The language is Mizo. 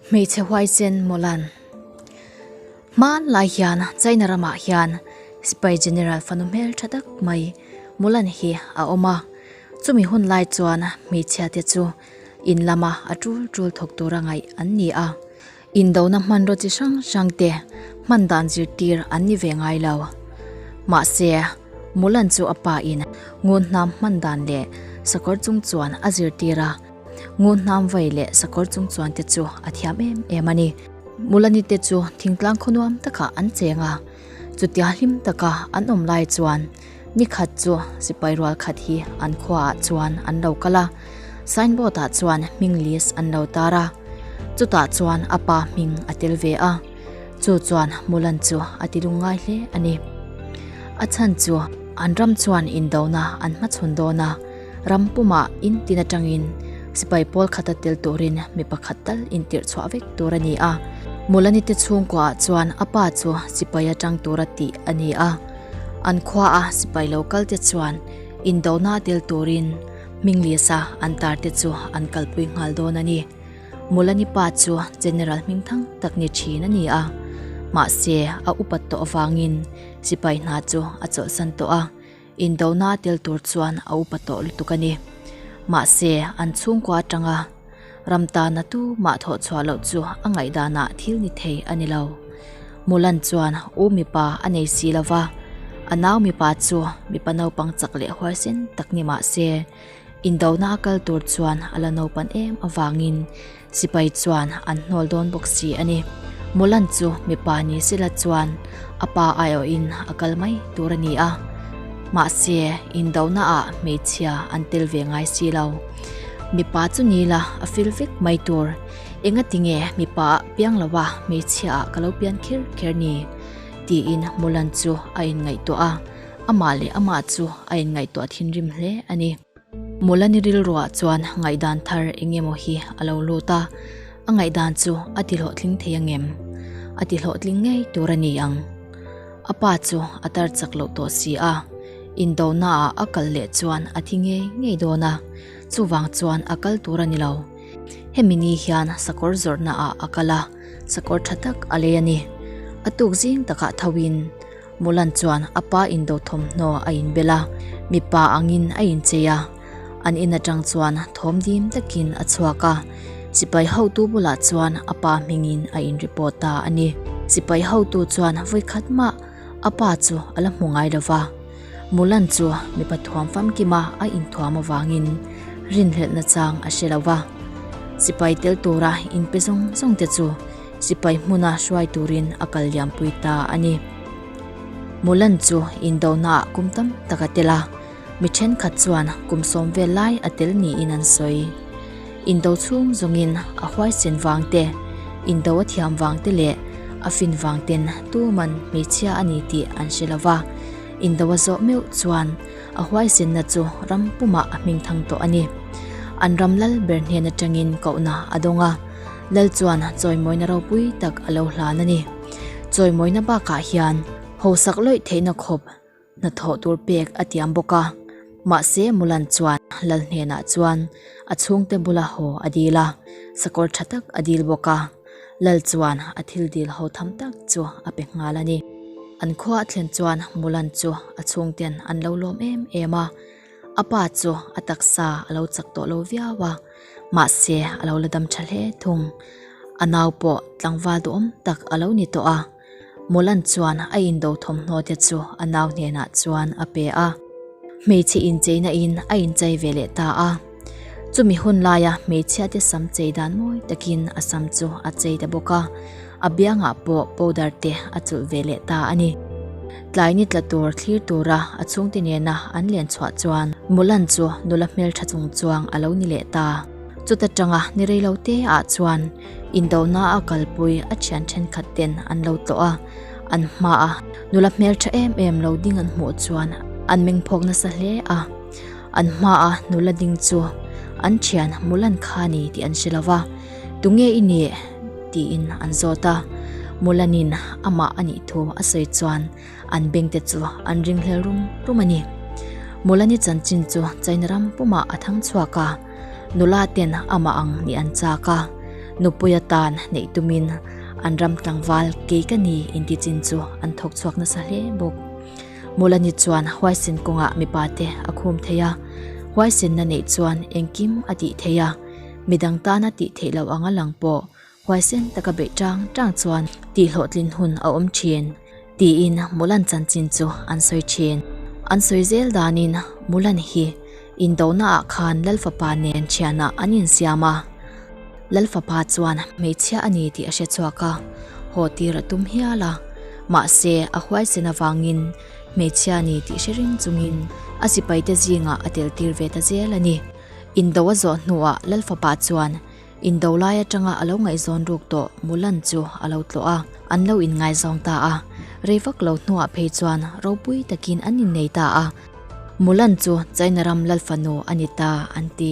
hmeichhe huai chen mawlan hman lai hian china ramah hian spy general fanu hmel tha tak mai mawlan hi a awm a chumi hun lai chuan hmeichhia te chu in lama a tul tul thawk tura ngaih an ni a Indona hmanraw chi hrang hrang te hman dan zirtir an ni ve ngai lo. Mahse, Mulan chu a pa in Nguhnam hman dan leh sakawr chung chuan a zirtir a, Nguhnam vai leh sakawr chung chuan te chu a thiam em em a ni. Mulani te chu thingtlang khawnuam takah an cheng a, chutia hlim taka an awm lai chuan, Ni khat chu sipai rual khat hi an khuaah chuan an lo kal a, signboard-ah chuan hming list an lo tar a. Chutah chuan a pa hming a tel ve a, chu chuan Mulan chu a ti lung ngai hle a ni. A chhan chu an ram chuan indona an hmachhawn dawn a, ram pumah in tin atangin sipai pawl khata tel turin mi pakhat tal intirhchhuah vek tur a ni a. Mulani te chhungkua ah chuan a pa chu sipai atang tur a tih a ni a. An khua a sipai lo kal te chuan indohna a tel turin Hmingliasa an tar te chu an kalpui nghal dawn a ni. Mulani pa chu General hming thang tak ni thin a ni a. Mahse a upat tawh avangin sipai hna chu a chawlhsan tawh a, indohna a tel tur chuan a upa tawh lutuk a ni. Mahse an chhungkua atanga. Ram tana tu mah thawh chhuah loh chu a ngaih danah thil ni thei a ni lo. Mulan chuan u mipa a nei si lo va, a nau mipa chu mipa naupang chak leh huaisen tak ni mah se, indona a kal tur chuan a la naupan em avangin Sipai chuan an hnawl dawn bawk si a ni. Mulan chu mipa ni se la chuan a pa ai awhin a kal mai tur a ni a, mahse indonaah hmeichhia an tel ve ngai si lo. Mipa chu ni la, a fil vek mai tur. Enga ti nge mipa ah piang lo a, hmeichhia ah ka lo pian kher kher ni? tiin Mulan chu a inngaihtuah a. Amah leh amah chu a inngaihtuah thinrim hle a ni. Mulan i rilruah chuan ngaihdan thar eng emaw hi a lo lut a. A ngaihdan chu a ti hlawhtling thei angem? A ti hlawhtling ngei tur a ni ang. A pa chu a tar chak loh tawh si a, indohna ah a kal leh chuan a thi ngei ngei dawn a, chuvang chuan a kal tur a ni lo. Hemi ni hian sakawr zawrhna ah a kal a, sakawr tha tak a lei a ni. A tuk zing takah tho in Mulan chuan a pa indoh thawmhnaw a inbel a, mipa angin a inchei a. An in atang chuan thawm dim takin a chhuak a. Sipai hotu bulah chuan a pa hmingin a in report ta a ni. Sipai hotu chuan vawi khat mah a pa chu a la hmu ngai lo va. Mulan chu mipa thuam famkim a a in thuam avangin rinhlelh nachang a hre lo va. Sipai tel tura in pe zawng zawng te chu sipai hmuna hruai turin a kal liam pui ta a ni. Mulan chu in dohnaah kum tam tak a tel a. Mi thenkhat chuan kum sawm vel lai a tel niin an sawi. Indo chhung zawngin a huaisen vang te, Indo a thiam vang te leh a fin vang ten tuman hmeichhia a ni tih an hre lo va. Indo a zawh meuh chuan a huaisenna chu ram pumah a hming thang tawh a ni. An ram lal ber hnen atangin kohna a dawng a, lal chuan chawimawina ropui tak a lo hlan a ni. Chawimawina bakah hian hausak lawih theihna khawp, Hnathawh tur pek a tiam bawk a, mahse Mulan chuan Lal hnenah chuan a chhungte bula haw a dil a, sakawr tha tak a dil bawk a. Lal chuan a thil dil haw tham tak chu a pe nghal a ni. An khuaa thlen chuan Mulan chu a chhungte'n an lo lawm em em a, a pa chu a taksa a lo chak tawh lo viau a, mahse a lo la dam tha hle thung. A nau pawh tlangval duhawm tak a lo ni tawh a. Mawlan chuan a indo thawmhnawnte chu a nau hnenah chuan a pe a, hmeichhe incheina in a inchei ve leh ta a. Chumi hun laia hmeichhiate sam chei dan mawi takin a sam chu a chei ta bawk a, a biangah pawh powder te a chulh ve leh ta a ni. Tlai ni tla tur thlir tura a chhungte nena an len chhuah chuan Mawlan chu nula hmeltha chungchuang a lo ni leh ta. Chuta tanga ni reilote ah chuan Indohna a kalpui a thian thenkhat ten an lo tlawh a, an hma a. Nula hmel tha em em lo ding an hmuh chuan an meng phawk nasa hle a. An hma a nula ding chu an thian Mulan kha a ni tih an hre lo va, tunge i nih? tiin an zawt a. Mulanin amah a nih thu a sawi chuan. an bank te chu an ring hlel rum rum a ni. Molani chanchin chu China ram pumah a thang chhuak a, nula ten amah ang ni an chak a, nupuia tan neih tumin an ram tlangval kei ka ni inti chin chu an thawk chhuak nasa hle bawk. Molani chuan huaisin kawngah mipa te a khum thei a, huaisinna neih chuan engkim a tih thei a, midang tana tih theih loh anga lang pawh Huaisen taka beih ṭang ṭang chuan tih hlawhtlin hun a awm ṭhin, tiin Mulan chanchin chu an sawi ṭhin. An sawi zel danin Mulan hi indonaah khan Lal fapa nen ṭhianah an insiam a. Lal fapa chuan hmeichhia a ni tih a hre chhuak a, haw tir a tum hial a. Mahse, a huaisen avangin hmeichhia a ni tih hre ring chungin a sipaite zingah a teltir ve ta zel a ni. Indo a zawh hnuah Lal fapa chuan In do lai atanga a lo ngaihzawn ruk tawh Mulan chu a lo tlawh a, an lo in ngaihzawn ta a. Rei vak lo hnuah phei chuan ropui takin an in nei ta a. Mulan chu China ram lal fanu a ni ta an ti.